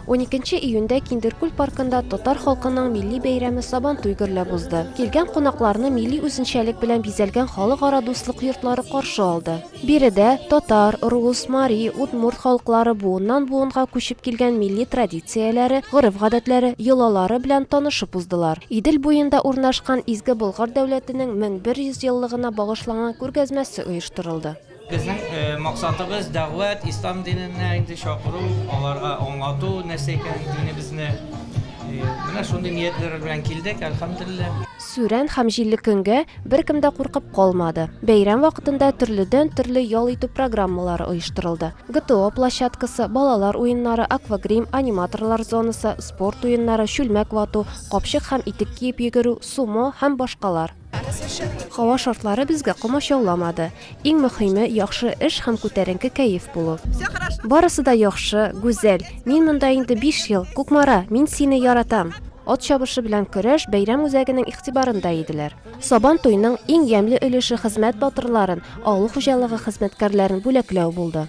Уникенче июньдә Киндеркүл паркында татар халкының милли бәйрәме Сабантуй гөрләп узды. Килгән кунакларны милли үзенчәлек белән бизәлгән халыкара дуслык йортлары каршы алды. Биредә татар, рус, мари, удмурт халыклары буыннан-буынга күчеп килгән милли традицияләре, гореф-гадәтләре, йолалары белән танышып уздылар. Идел буенда урнашкан Изге Болгар дәүләтенең 1100 еллыгына багышланган күргәзмәсе оештырылды. Безнең максатыбыз дәгъват, ислам диненә инде чакыру, аларга аңлату, нәрсә икәнен динебезне. Менә шундый ниятләр белән килдек, әлхәмдулиллаһ. Сүрән һәм җилле көнгә беркем дә куркып калмады. Бәйрәм вакытында төрледән-төрле ял итү программалары оештырылды. ГТО площадкасы, балалар уеннары, аквагрим, аниматорлар зонасы, спорт уеннары, чүлмәк вату, капчык һәм итек киеп йөгерү, сумо һәм башкалар. Һава шартлары безгә комачауламады. Иң мөхиме, яхшы эш һәм күтәренке кәеф булу. Барысы да яхшы, гүзәл. Мин монда инде 5 ел. Кукмара, мин сине яратам. Ат чабышы белән көрәш бәйрәм үзәгенең игътибарында иделәр. Сабан туйның иң ямьле өлеше хезмәт батырларын, авыл хуҗалыгы хезмәткәрләрен бүләкләү булды.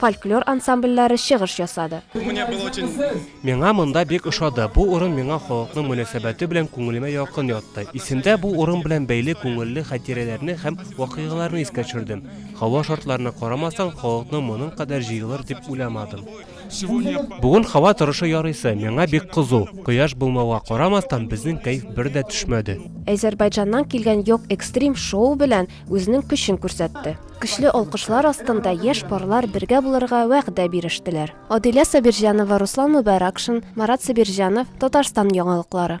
фольклор ансамбльләре чыгыш ясады. Миңа монда бик ошады. Бу урын миңа халыкның мөнәсәбәте белән күңелемә якын ятты. Исемдә бу урын белән бәйле күңелле хатирәләрне һәм вакыйгаларны искә төшердем. Һава шартларына карамастан, халыкның моның кадәр җыелыр дип уйламадым. Бүген һава торышы ярыйсы, миңа бик кызу. Кояш булмауга карамастан, безнең кәеф бер дә төшмәде. Әзербайҗаннан килгән Йок Экстрим шоу белән үзенең көчен күрсәтте. Көчле алкышлар астында яшь парлар бергә булырга вәгъдә бирештеләр. Адилә Сабирҗанова, Руслан Мөбаракшин, Марат Сабирҗанов, Татарстан яңалыклары.